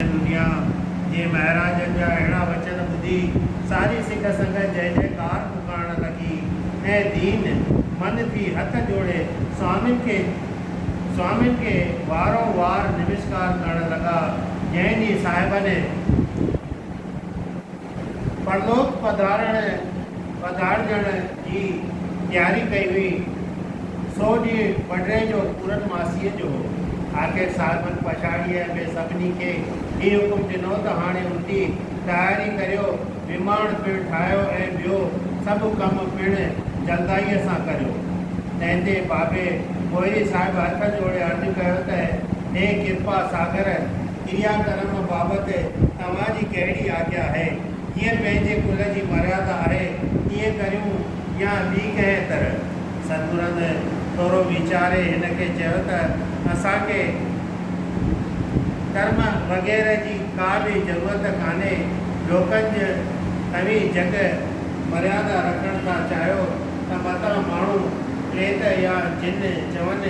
دنيا جي مهاراجن جا اهڙا وچن ٻڌي ساري سک سنگت جئه جئه ڪار پڪارڻ لڳي ۽ دين من ٿي هٿ جوڙي سوامين کي سوامين کي وارو وار نمسڪار ڪرڻ لڳا جنهن جي صاحبني پرلوڪ پڌارڻ ۽ پڌارجڻ جي تياري ڪئي هئي. سو ڏينهن وڍڙي جو پورن ماسيء جو هو. آخر صاحبن پڇاڙيء ۾ سڀني کي هي حڪم ڏنو ته هاڻي اٿي تياري ڪريو، نماڻ پڻ ٺاهيو ۽ ٻيو سڀ ڪم پڻ جلدائيء سان ڪريو. تنهن تي بابي پوئري صاحب هٿ جوڙي عرض ڪيو ته، هي ڪرپا ساگر ڪريا ڪرم بابت، توهان جي ڪهڙي آجيا آهي. جيئن پنهنجي ڪل جي مريادا آهي، تيئن ڪريون يا ٻي ڪنهن طرح. سندورند ٿورو ويچاري هن کي چيو ته اسان کي ڪرم وغيره جي ڪا به ضرورت ڪانهي. لوڪن جي توهين جيڪي مريادا رکڻ ٿا چاهيو ته متان ماڻهو، پريت يا جن چون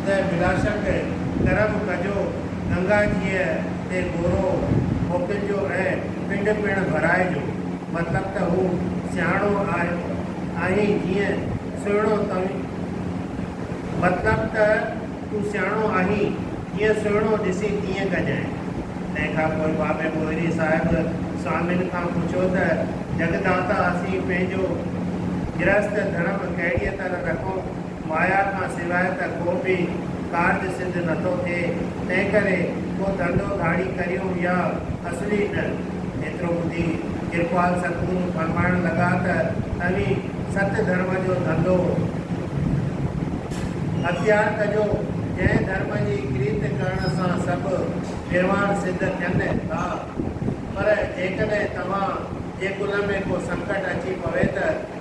ته بلاشڪ ڪرم ڪجو. گنگاجيء تي گورو موڪلجو ۽ پنڊ پڻ ڀرائجو. مطلب ته هو سياڻو آهين جيئن سهڻو تنگ مطلب ته تون سياڻو آهين، جيئن سهڻو ڏسين تيئن ڪجانء. تنهن کان پوء بابي پوئري صاحب سوامين کان پڇيو ته جڳدانتا اسين پنهنجو گرهست ڌرم ڪهڙيء طرح رکون؟ مايا کان سواء ته ڪو به ڪارج سڌ نٿو ٿئي، تنهنڪري ڪو ڌنڌو ڌاڙي ڪريون يا اسڙي نه. ايترو ٻڌي ڪرپال ستگرو فرمائڻ لڳا ته اوهين ست ڌرم جو ڌنڌو اختيار ڪجو، جنهن ڌرم جي ڪريت ڪرڻ سان سڀ نروان سڌ ٿين ٿا. پر جيڪڏهن توهان جي ڪل ۾ ڪو سنڪٽ اچي پوي ته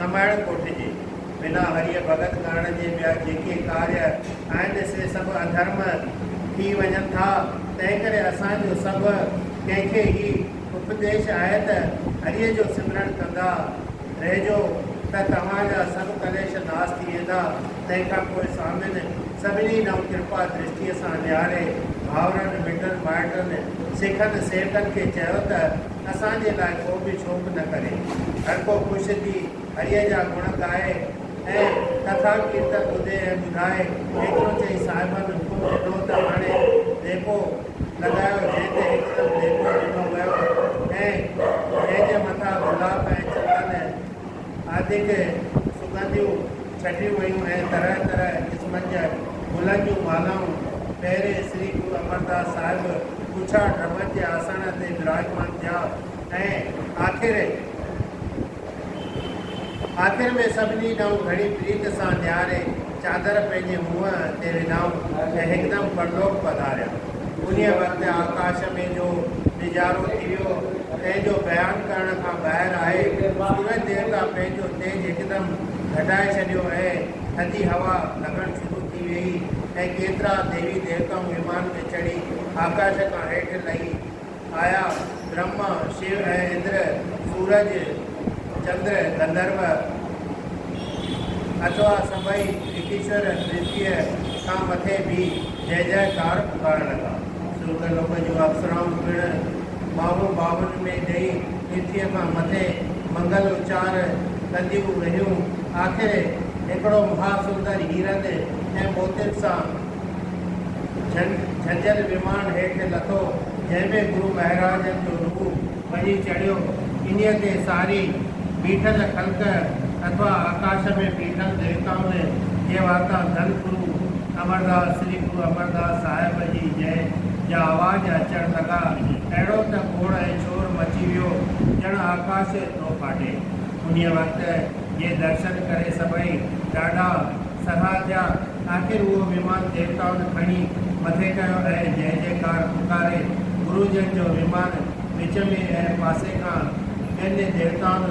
نمائڻ ڪوٺجي. بنا هريء ڀڳت ڪرڻ جي ٻيا جيڪي ڪاري آهن سي سڀ اڌرم ٿي وڃن ٿا. تنهنڪري اسان جو سڀ ڪنهن کي هي اپديش آهي ته هريء جو سمرڻ ڪندا رهجو ته توهان جا سڀ ڪليش ناس ٿي ويندا. تنهن کان پوء سوامين سڀني ڏانهن ڪرپا درشٽيء سان نهاري ڀائرن، مٽن مائٽن، سکن، سيٺن کي چيو ته، اسان جي لاء ڪو به شوق نه ڪري. هر ڪو خوش ٿي هريء جا گڻ ڳائي ۽ ڪٿا ڪيرتن ٻڌي ۽ ٻڌائي. ايترو چئي صاحبن حڪم ڏنو ته هاڻي ديڳو لڳايو، جنهن تي هڪدم ديڳو ڏنو ويو ۽ جنهن جي مٿان گلاب ۽ چندن، آڌڪ سگنديون ڇٽيون ويون ۽ طرح طرح قسمن جي گلن جون مالائون پهرين سري گرو امرداس صاحب ڳڇا ڊرمن جي آسڻ تي وراجمان ٿيا ۽ آخر آخر ۾ سڀني ڏانهن گهڻي پريت سان نهاري چادر پنهنجي منهن تي وڌائون ۽ هڪدم پرلوڪ پڌاريا. انهيء وقت آڪاش ۾ جو نظارو ٿي ويو، تنهن جو بيان ڪرڻ کان ٻاهر آهي. سورج ديوتا پنهنجو تيج هڪدم گهٽائي ڇڏيو ۽ ٿڌي هوا لڳڻ شروع ٿي ويئي ۽ ڪيترا ديوي ديوتائون ومان ۾ چڙهي آڪاش کان هيٺ لهي، آيا، برهما، شو ۽ اندر، سورج، چندر، گنڌرو، اٿوا سڀئي ريتيشور ريتيء کان مٿي بيهي جئه جئه ڪار پڪارڻ لڳا. سورڳ لوڪ جون اپسرائون پڻ ٻانهون ٻانهن ۾ ڏئي ريتيء کان مٿي منگل اچار ڪنديون رهيون. آخر هڪڙو مها سندر هيرن ۽ موتين سان جن جھجھل ويمان هيٺ لٿو، جنهن ۾ گرو مهراج جو روح وڃي چڙهيو، انهيء تي ساري بيٺل خلق اٿوا آڪاش ۾ بيٺل ديوتائن جي واتان ڌن گرو امرداس، شري گرو امرداس صاحب جي جئه جا آواز اچڻ لڳا، اهڙو ته گوڙ ۽ شور مچي ويو، ڄڻ آڪاش ٿو ڦاٽي. انهيء وقت جي درشن ڪري سڀئي ڏاڍا. سرها ٿيا، آخر اهو ويمان ديوتائن کڻي مٿي ڪيو ۽ جئه جئه ڪار پڪاري گرو جن جو ويمان وچ ۾ ۽ پاسي کان ٻين ديوتائن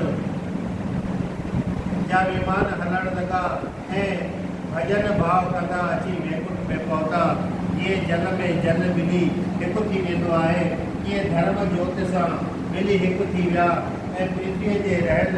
جا ويمان هلڻ لڳا ۽ ڀڄن ڀاء ڪندا اچي ويڪنٺ ۾ پهتا. جيئن جل ۾ جل ٻلي هڪ ٿي ويندو آهي، تيئن ڌرم جوت سان ٻلي هڪ ٿي ويا ۽ پرٿويء تي رهيل،